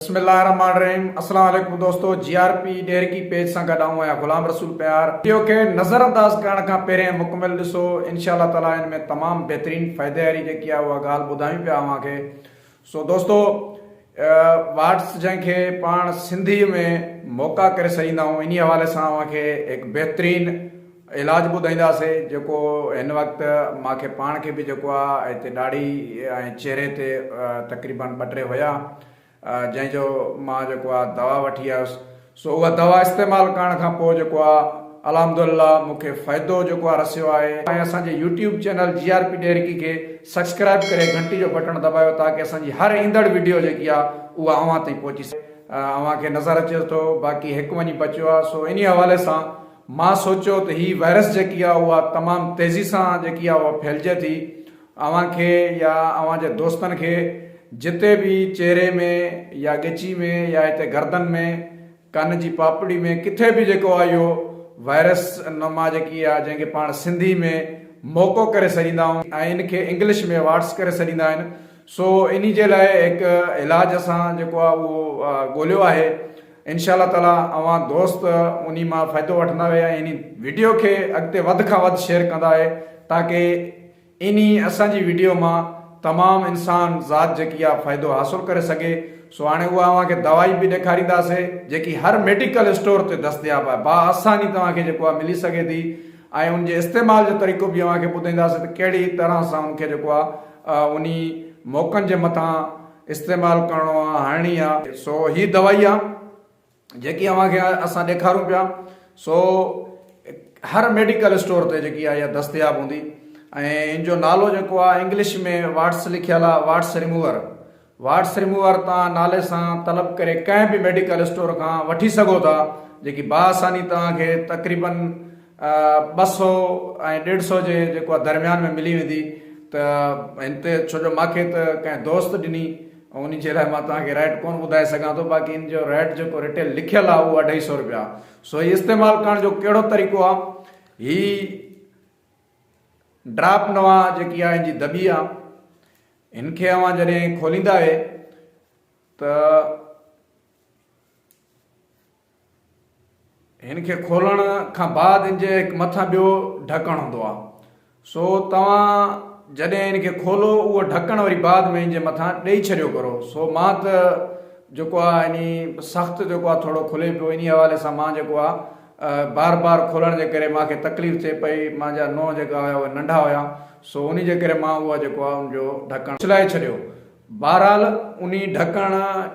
بسم الله الرحمٰن الرحيم اسلام عليڪم دوستو G R P Daharki page سان گڏ آئون آهيان غلام رسول پيار وڊيو کي نظر انداز ڪرڻ کان پهرين مڪمل ڏسو انشاء الله تعالي ان ۾ تمام بهترين فائدي واري جيڪي آهي اها ڳالهه ٻڌايون پيا اوهان کي سو دوستو واٽس جنهن کي پاڻ سنڌي ۾ موقع ڪري سڏيندا آهيون انهي حوالي سان اوهان کي هڪ بهترين علاج ٻڌائينداسي جيڪو هن وقت مان کي پاڻ کي به جيڪو آ هتي ڏاڙهي ۽ چهري تي تقريبن ٻه ٽي هيا جنهن جو مان جيڪو آ دوا وٺي آيس سو اها دوا استعمال ڪرڻ کان پوء جيڪو آ الحمد لله مون کي فائدو جيڪو آ رسيو آهي ۽ اسان جي YouTube channel G R P Daharki کي سبسڪرائيب ڪري گهنٽي جو بٽڻ دٻايو تاڪه اسان جي هر ايندڙ وڊيو جيڪي آ اها اوهان تائين پهچي سگهي اوهان کي نظر اچي ٿو باقي هڪ وڃي بچيو آ سو انهي حوالي سان مان سوچيو ته هي وائرس جيڪي آهي اها تمام تيزي سان جيڪي آهي اها ڦهلجي ٿي اوهان کي يا اوهان جي دوستن کي جتي به چهري ۾ يا ڳچي ۾ يا هتي گردن ۾ ڪن جي پاپڙي ۾ ڪٿي به جيڪو آهي اهو وائرس نما جيڪي آهي جنهن کي پاڻ سنڌي ۾ موڪو ڪري سڏيندا آهيون ۽ ان کي انگلش ۾ واٽس ڪري سڏيندا آهن سو انهي جي لاء هڪ علاج اسان جيڪو آهي اهو ڳوليو آهي انشاء الله تعالي اوهان دوست انهي مان فائدو وٺندا ويا ۽ انهي وڊيو کي اڳتي وڌ کان وڌ شيئر ڪندا اهي تاڪه انهي اسان جي وڊيو مان تمام انسان ذات جيڪي آهي فائدو حاصل ڪري سگهي سو هاڻي اها اوهان کي دوائي به ڏيکارينداسي جيڪي هر ميڊيڪل اسٽور تي دستياب آهي با آساني توهان کي جيڪو آهي ملي سگهي ٿي ۽ ان جي استعمال جو طريقو به اوهان کي ٻڌائينداسي ته ڪهڙي طرح سان ان کي جيڪو آهي انهي موقعن جي مٿان استعمال ڪرڻو آ هڻڻي آ سو هي دوائي آ جيڪي اوهان کي اسان ڏيکارون پيا سو هر ميڊيڪل اسٽور تي جيڪي آ دستياب هوندي ۽ ان جو نالو جيڪو آ انگلش ۾ واٽس لکيل آ واٽس ريموور واٽس ريموور توهان نالي سان طلب ڪري ڪنهن به ميڊيڪل اسٽور کان وٺي سگهو ٿا جيڪي با آساني توهان کي تقريبن ٻه سؤ ۽ ڏيڍ سؤ جي جيڪو آ درميان ۾ ملي ويندي ته هن تي ڇو جو ماکي ته ڪنهن دوست ڏني ان جي لاء مان توهان کي ريٽ ڪون ٻڌائي سگهان ٿو باقي ان جو ريٽ جيڪو ريٽيل لکيل آ اهو اڍائي سؤ روپيا سو هي استعمال ڪرڻ جو ڪهڙو طريقو آ هي ڊراپ نوا جيڪي آ ان جي دٻي آ ان کي اوهان جڏهن کوليندا آهي ته هن کي کولڻ کان بعد هن جي هڪ مٿان ٻيو ڍڪڻ هوندو آهي سو توهان جڏهن هن کي کولو اهو ڍڪڻ وري بعد ۾ هن جي مٿان ڏئي ڇڏيو ڪرو سو مان ته جيڪو آهي يعني سخت جيڪو آهي ٿورو کلي پيو انهي حوالي سان مان جيڪو آهي بار بار کولڻ جي ڪري مان کي تڪليف ٿئي پئي مان جا نونهن جيڪا هيا اهي ننڍا هيا سو انهي جي ڪري مان اهو جيڪو آهي ان جو ڍڪڻ ڇلائي ڇڏيو بهرحال انهي ڍڪڻ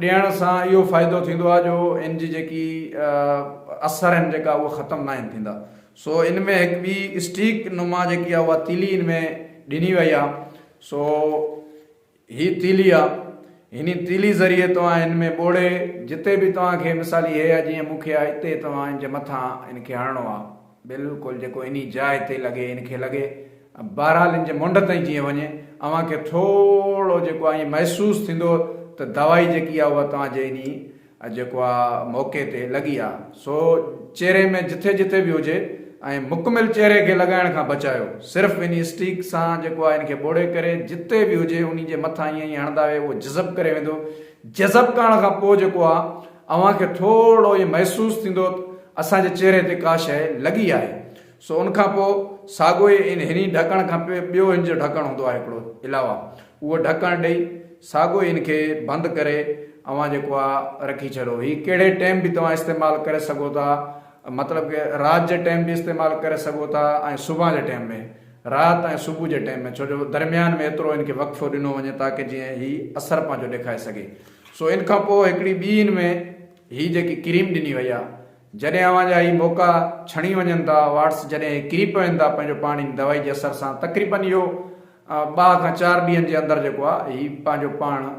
ڏيڻ سان اهو فائدو ٿيندو آهي جو ان جي جيڪي اثر آهن جيڪا اهي ختم ناهن ٿيندا سو ان ۾ هڪ ٻي اسٽيڪ نما جيڪي آهي اها تيلي ان ۾ ڏني وئي آهي سو هي تيلي آهي هن تيلي ذريعي توهان ان ۾ ٻوڙي جتي به توهان کي مثال هي آهي جيئن مون کي آهي اتي توهان ان جي مٿان ان کي هڻڻو آهي بلڪل جيڪو انهي جاء تي لڳي ان کي لڳي بهرحال ان جي منڍ تائين جيئن وڃي اوهان کي ٿورو جيڪو آهي ائين محسوس ٿيندو ته دوائي جيڪي آهي اها توهان جي انهي جيڪو آهي موقعي تي لڳي آهي سو چهري ۾ جٿي جٿي به هجي ۽ مڪمل چهري کي لڳائڻ کان بچايو صرف انهي اسٽيڪ سان جيڪو آهي ان کي ٻوڙي ڪري جتي به هجي انهي جي مٿان ائين ائين هڻندا ويهو اهو جذب ڪري ويندو جذب ڪرڻ کان پوء جيڪو آهي اوهان کي ٿورڙو ائين محسوس ٿيندو ته اسان جي چهري تي ڪا شيء لڳي آهي. سو ان کان پوء ساڳو ئي ان هني ڍڪڻ کان پوء ٻيو هن جو ڍڪڻ هوندو آهي هڪڙو علاوه اهو ڍڪڻ ڏئي ساڳو ئي هن کي بند ڪري اوهان جيڪو آ رکي ڇڏو هي ڪهڙي ٽيم به توهان استعمال ڪري سگهو ٿا مطلب ڪه رات جي ٽيم به استعمال ڪري سگهو ٿا ۽ صبحان جي ٽيم ۾ رات ۽ صبح جي ٽيم ۾ ڇو جو درميان ۾ ايترو هن کي وقفو ڏنو وڃي تاڪه جئين هي اثر پنهنجو ڏيکاري سگهي. سو ان کان پوء هڪڙي ٻي ان ۾ هي جيڪي ڪريم ڏني وئي آ جڏهن اوهان جا هي موقعا ڇڻي وڃن ٿا واٽس جڏهن هي ڪري پون ٿا پنهنجو پاڻ ان دوائي جي اثر سان تقريبن اهو ٻه کان چار ڏينهن جي اندر جيڪو آ هي پنهنجو پاڻ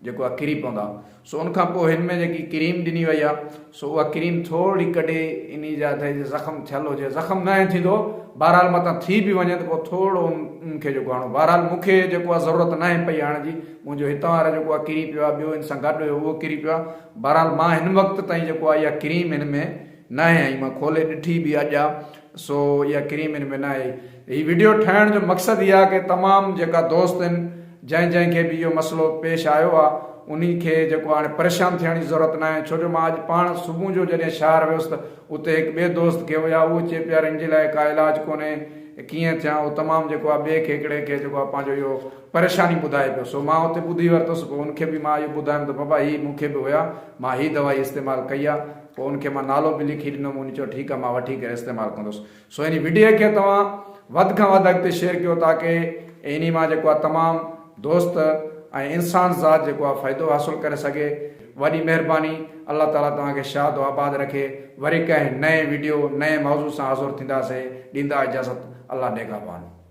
جيڪو آ ڪري پوندا سو ان کان پوء هن ۾ جيڪي ڪريم ڏني وئي آ سو اها ڪريم ٿورڙي ڪڍي انهي جا تي جي زخم ٿيل هجي زخم نه ائين ٿيندو بهرحال متان ٿي به وڃي ته پوء ٿورڙو ان کي جيڪو هڻو بهرحال مون کي جيڪو آهي ضرورت ناهي پئي هڻ جي منهنجو هتان وارو جيڪو آهي ڪري پيو آهي ٻيو ان سان گڏ هيو اهو ڪري پيو آهي بهرحال مان هن وقت تائين جيڪو آهي اها ڪريم هن ۾ ناهي هئي مان کولي ڏٺي به اڄ آ سو اها ڪريم ان ۾ ناهي. هي وڊيو ٺاهڻ جو مقصد هي آهي ڪه تمام جيڪا دوست ان جنهن جنهن کي به اهو مسئلو پيش آيو آهي انهي کي جيڪو هاڻي پريشان ٿيڻ جي ضرورت ناهي ڇو جو مان اڄ پاڻ صبح جو جڏهن شهر ويس ته اتي هڪ ٻئي دوست کي هيا اهو چي پيا ان جي لاء ڪا علاج ڪونهي ڪيئن ٿيان اهو تمام جيڪو آهي ٻئي کي هڪڙي کي جيڪو آهي پنهنجو اهو پريشاني ٻڌائي پيو سو مان اتي ٻڌي ورتس پوء ان کي به مان اهو ٻڌايم ته بابا هي مون کي به هيا مان هي دوائي استعمال ڪئي آهي پوء ان کي مان نالو به لکي ڏنو مون چيو ٺيڪ آ مان وٺي ڪري استعمال ڪندس سو انهي وڊيو کي توهان وڌ کان وڌ اڳتي شيئر ڪيو تاڪه انهي مان جيڪو آ تمام دوست ۽ انسان ذات جيڪو آ فائدو حاصل ڪري سگهي وڏي مهرباني الله تعالي توهان کي شاد و آباد رکي وري ڪنهن نئين وڊيو نئين موضوع سان حاضر ٿينداسين ڏيندا اجازت الله نگهبان.